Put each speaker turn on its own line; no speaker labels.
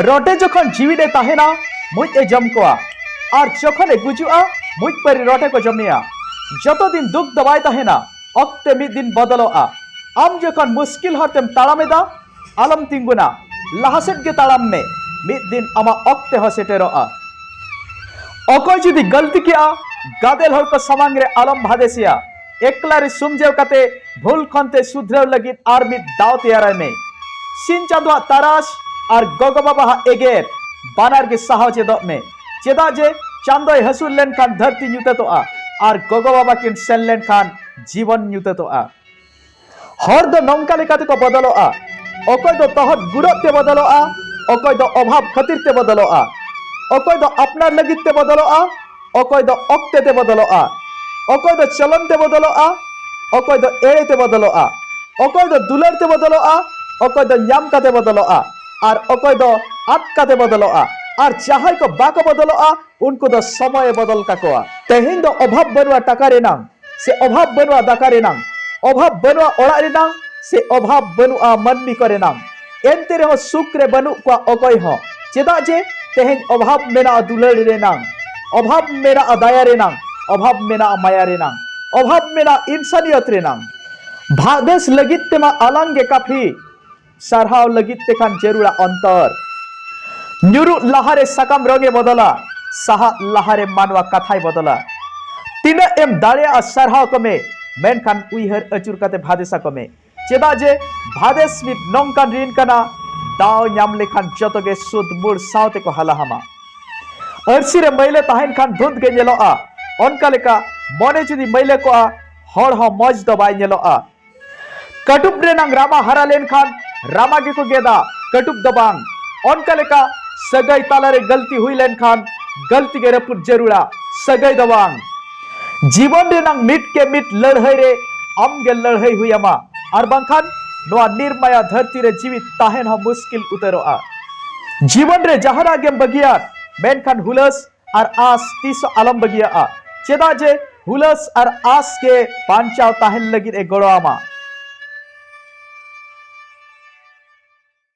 ᱨᱚᱴᱮ ᱡᱚᱠᱷᱚᱱ ᱡᱤᱣᱤ ᱨᱮ ᱛᱟᱦᱮᱱᱟ ᱢᱩᱡ ᱮ ᱡᱚᱢ ᱠᱚᱣᱟ ᱟᱨ ᱡᱚᱠᱷᱚᱱ ᱮ ᱜᱩᱡᱩᱜᱼᱟ ᱢᱩᱡ ᱯᱟᱹᱨᱤ ᱨᱚᱴᱮ ᱠᱚ ᱡᱚᱢᱮᱭᱟ ᱡᱚᱛᱚ ᱫᱤᱱ ᱫᱩᱠ ᱫᱚ ᱵᱟᱭ ᱛᱟᱦᱮᱱᱟ ᱚᱠᱛᱮ ᱢᱤᱫ ᱫᱤᱱ ᱵᱚᱫᱚᱞᱚᱜᱼᱟ ᱟᱢ ᱡᱚᱠᱷᱚᱱ ᱢᱩᱥᱠᱤᱞ ᱦᱚᱨ ᱛᱮᱢ ᱛᱟᱲᱟᱢ ᱮᱫᱟ ᱟᱞᱚᱢ ᱛᱤᱸᱜᱩᱱᱟ ᱞᱟᱦᱟ ᱥᱮᱫ ᱜᱮ ᱛᱟᱲᱟᱢ ᱢᱮ ᱢᱤᱫ ᱫᱤᱱ ᱟᱢᱟᱜ ᱚᱠᱛᱮ ᱦᱚᱸ ᱥᱮᱴᱮᱨᱚᱜᱼᱟ ᱚᱠᱚᱭ ᱡᱩᱫᱤ ᱜᱟᱹᱞᱛᱤ ᱠᱮᱜᱼᱟ ᱜᱟᱫᱮᱞ ᱦᱚᱲ ᱠᱚ ᱥᱟᱢᱟᱝ ᱨᱮ ᱟᱞᱚᱢ ᱵᱷᱟᱫᱮᱥᱮᱭᱟ ᱮᱠᱞᱟ ᱨᱮ ᱥᱩᱢᱡᱟᱹᱣ ᱠᱟᱛᱮ ᱵᱷᱩᱞ ᱠᱷᱚᱱ ᱛᱮ ᱥᱩᱫᱷᱨᱟᱹᱣ ᱞᱟᱹᱜᱤᱫ ᱟᱨ ᱢᱤᱫ ᱫᱟᱣ ᱛᱮᱭᱟᱨᱟᱭ ᱢᱮ ᱥᱤᱧ ᱪᱟᱸᱫᱚᱣᱟᱜ ᱛᱟᱨᱟᱥ ᱟᱨ ᱜᱚᱜᱚ ᱵᱟᱵᱟᱣᱟᱜ ᱮᱜᱮᱨ ᱵᱟᱱᱟᱨ ᱜᱮ ᱥᱟᱦᱟᱣ ᱪᱮᱫᱚᱜ ᱢᱮ ᱪᱮᱫᱟᱜ ᱡᱮ ᱪᱟᱸᱫᱚᱭ ᱦᱟᱹᱥᱩᱨ ᱞᱮᱱᱠᱷᱟᱱ ᱫᱷᱟᱹᱨᱛᱤ ᱧᱩᱛᱟᱹᱛᱚᱜᱼᱟ ᱟᱨ ᱜᱚᱜᱚ ᱵᱟᱵᱟ ᱠᱤᱱ ᱥᱮᱱ ᱞᱮᱱᱠᱷᱟᱱ ᱡᱤᱵᱚᱱ ᱧᱩᱛᱟᱹᱛᱚᱜᱼᱟ ᱦᱚᱲ ᱫᱚ ᱱᱚᱝᱠᱟ ᱞᱮᱠᱟᱛᱮ ᱠᱚ ᱵᱚᱫᱚᱞᱚᱜᱼᱟ ᱚᱠᱚᱭ ᱫᱚ ᱛᱚᱦᱚᱫ ᱜᱩᱨᱚᱜ ᱛᱮ ᱵᱚᱫᱚᱞᱚᱜᱼᱟ ᱚᱠᱚᱭ ᱫᱚ ᱚᱵᱷᱟᱵ ᱠᱷᱟᱹᱛᱤᱨ ᱛᱮ ᱵᱚᱫᱚᱞᱚᱜᱼᱟ ᱚᱠᱚᱭ ᱫᱚ ᱟᱯᱱᱟᱨ ᱞᱟᱹᱜᱤᱫ ᱛᱮ ᱵᱚᱫᱚᱞᱚᱜᱼᱟ ᱚᱠᱚᱭ ᱫᱚ ᱚᱠᱛᱮ ᱛᱮ ᱵᱚᱫᱚᱞᱚᱜᱼᱟ ᱚᱠᱚᱭ ᱫᱚ ᱪᱚᱞᱚᱱ ᱛᱮ ᱵᱚᱫᱚᱞᱚᱜᱼᱟ ᱚᱠᱚᱭ ᱫᱚ ᱮᱲᱮ ᱛᱮ ᱵᱚᱫᱚᱞᱚᱜᱼᱟ ᱚᱠᱚᱭ ᱫᱚ ᱫᱩᱞᱟᱹᱲ ᱛᱮ ᱵᱚᱫᱚᱞᱚᱜᱼᱟ ᱚᱠᱚᱭ ᱫᱚ ᱧᱟᱢ ᱠᱟᱛᱮ ᱵᱚᱫᱚᱞᱚᱜᱼᱟ ᱟᱨ ᱚᱠᱚᱭ ᱫᱚ ᱟᱫ ᱠᱟᱛᱮ ᱵᱚᱫᱚᱞᱚᱜᱼᱟ ᱟᱨ ᱡᱟᱦᱟᱸᱭ ᱠᱚ ᱵᱟᱠᱚ ᱵᱚᱫᱚᱞᱚᱜᱼᱟ ᱩᱱᱠᱩ ᱫᱚ ᱥᱚᱢᱚᱭᱮ ᱵᱚᱫᱚᱞ ᱠᱟᱠᱚᱣᱟ ᱛᱮᱦᱮᱧ ᱫᱚ ᱚᱵᱷᱟᱵ ᱵᱟᱹᱱᱩᱜᱼᱟ ᱴᱟᱠᱟ ᱨᱮᱱᱟᱝ ᱥᱮ ᱚᱵᱷᱟᱵᱽ ᱵᱟᱹᱱᱩᱜᱼᱟ ᱫᱟᱠᱟ ᱨᱮᱱᱟᱝ ᱚᱵᱷᱟᱵᱽ ᱵᱟᱹᱱᱩᱜᱼᱟ ᱚᱲᱟᱜ ᱨᱮᱱᱟᱝ ᱥᱮ ᱚᱵᱷᱟᱵᱽ ᱵᱟᱹᱱᱩᱜᱼᱟ ᱢᱟᱹᱱᱢᱤ ᱠᱚ ᱨᱮᱱᱟᱝ ᱮᱱᱛᱮ ᱨᱮᱦᱚᱸ ᱥᱩᱠ ᱨᱮ ᱵᱟᱹᱱᱩᱜ ᱠᱚᱣᱟ ᱚᱠᱚᱭ ᱦᱚᱸ ᱪᱮᱫᱟᱜ ᱡᱮ ᱛᱮᱦᱮᱧ ᱚᱵᱷᱟᱵᱽ ᱢᱮᱱᱟᱜᱼᱟ ᱫᱩᱞᱟᱹᱲ ᱨᱮᱱᱟᱝ ᱚᱵᱷᱟᱵᱽ ᱢᱮᱱᱟᱜᱼᱟ ᱫᱟᱭᱟ ᱨᱮᱱᱟᱝ ᱚᱵᱷᱟᱵᱽ ᱢᱮᱱᱟᱜᱼᱟ ᱢᱟᱭᱟ ᱨᱮᱱᱟᱝ ᱚᱵᱷᱟᱵᱽ ᱢᱮᱱᱟᱜᱼᱟ ᱤᱱᱥᱟᱱᱤᱭᱚᱛ ᱨᱮᱱᱟᱝ ᱵᱷᱟᱜᱽ ᱵᱮᱥ ᱞᱟᱹᱜᱤᱫ ᱛᱮᱢᱟ ᱟᱞᱟᱝ ᱜᱮ ᱠᱟᱯᱷᱤ ᱥᱟᱨᱦᱟᱣ ᱞᱟᱹᱜᱤᱫ ᱛᱮᱠᱷᱟᱱ ᱡᱟᱹᱨᱩᱲᱟ ᱚᱱᱛᱚᱨ ᱧᱩᱨᱩᱜ ᱞᱟᱦᱟᱨᱮ ᱥᱟᱠᱟᱢ ᱨᱚᱝ ᱮ ᱵᱚᱫᱚᱞᱟ ᱥᱟᱦᱟᱜ ᱞᱟᱦᱟᱨᱮ ᱢᱟᱱᱣᱟ ᱠᱟᱛᱷᱟᱭ ᱵᱚᱫᱚᱞᱟ ᱛᱤᱱᱟᱹᱜ ᱮᱢ ᱫᱟᱲᱮᱭᱟᱜᱼᱟ ᱥᱟᱨᱦᱟᱣ ᱠᱚᱢᱮ ᱢᱮᱱᱠᱷᱟᱱ ᱩᱭᱦᱟᱹᱨ ᱟᱹᱪᱩᱨ ᱠᱟᱛᱮ ᱵᱷᱟᱫᱮᱥᱟ ᱠᱚᱢᱮ ᱪᱮᱫᱟᱜ ᱡᱮ ᱵᱷᱟᱫᱮᱥ ᱢᱤᱫ ᱱᱚᱝᱠᱟᱱ ᱨᱤᱱ ᱠᱟᱱᱟ ᱫᱟᱣ ᱧᱟᱢ ᱞᱮᱠᱷᱟᱱ ᱡᱚᱛᱚ ᱜᱮ ᱥᱩᱫ ᱢᱩᱲ ᱥᱟᱶᱛᱮ ᱠᱚ ᱦᱟᱞᱟᱦᱟᱢᱟ ᱟᱹᱨᱥᱤ ᱨᱮ ᱢᱟᱹᱭᱞᱟᱹ ᱛᱟᱦᱮᱱ ᱠᱷᱟᱱ ᱫᱷᱩᱸᱫ ᱜᱮ ᱧᱮᱞᱚᱜᱼᱟ ᱚᱱᱠᱟ ᱞᱮᱠᱟ ᱢᱚᱱᱮ ᱡᱩᱫᱤ ᱢᱟᱹᱭᱞᱟᱹ ᱠᱚᱜᱼᱟ ᱦᱚᱲ ᱦᱚᱸ ᱢᱚᱡᱽ ᱫᱚ ᱵᱟᱭ ᱧᱮᱞᱚᱜᱼᱟ ᱠᱟᱴᱩᱵ ᱨᱮᱱᱟᱝ ᱨᱟᱢᱟ ᱦᱟᱨᱟ ᱞᱮᱱᱠᱷᱟᱱ ᱨᱟᱢᱟ ᱜᱮᱠᱚ ᱜᱮᱫᱟ ᱠᱟᱴᱩᱵ ᱫᱚ ᱵᱟᱝ ᱚᱱᱠᱟ ᱞᱮᱠᱟ ᱥᱟᱹᱜᱟᱹᱭ ᱛᱟᱞᱟᱨᱮ ᱜᱟᱹᱞᱛᱤ ᱦᱩᱭ ᱞᱮᱱᱠᱷᱟᱱ ᱜᱟᱹᱞᱛᱤ ᱜᱮ ᱨᱟᱹᱯᱩᱫ ᱡᱟᱹᱨᱩᱲᱟ ᱥᱟᱹᱜᱟᱹᱭ ᱫᱚ ᱵᱟᱝ ᱡᱤᱵᱚᱱ ᱨᱮᱱᱟᱝ ᱢᱤᱫ ᱠᱮ ᱢᱤᱫ ᱞᱟᱹᱲᱦᱟᱹᱭ ᱨᱮ ᱟᱢ ᱜᱮ ᱞᱟᱹᱲᱦᱟᱹᱭ ᱦᱩᱭ ᱟᱢᱟ ᱟᱨ ᱵᱟᱝᱠᱷᱟᱱ ᱱᱚᱣᱟ ᱱᱤᱨᱢᱟᱭᱟ ᱫᱷᱟᱹᱨᱛᱤ ᱨᱮ ᱡᱤᱣᱤ ᱛᱟᱦᱮᱱ ᱦᱚᱸ ᱢᱩᱥᱠᱤᱞ ᱩᱛᱟᱹᱨᱚᱜᱼᱟ ᱡᱤᱵᱚᱱ ᱨᱮ ᱡᱟᱦᱟᱱᱟᱜ ᱜᱮᱢ ᱵᱟᱹᱜᱤᱭᱟ ᱢᱮᱱᱠᱷᱟᱱ ᱦᱩᱞᱟᱹᱥ ᱟᱨ ᱟᱥ ᱛᱤᱥ ᱟᱞᱚᱢ ᱵᱟᱹᱜᱤᱭᱟᱜᱼᱟ ᱪᱮᱫᱟᱜ ᱡᱮ ᱦᱩᱞᱟᱹᱥ ᱟᱨ ᱟᱥ ᱜᱮ ᱵᱟᱧᱪᱟᱣ ᱛᱟᱦᱮᱱ ᱞᱟᱹᱜᱤᱫ ᱮ ᱜᱚᱲᱚ ᱟᱢᱟ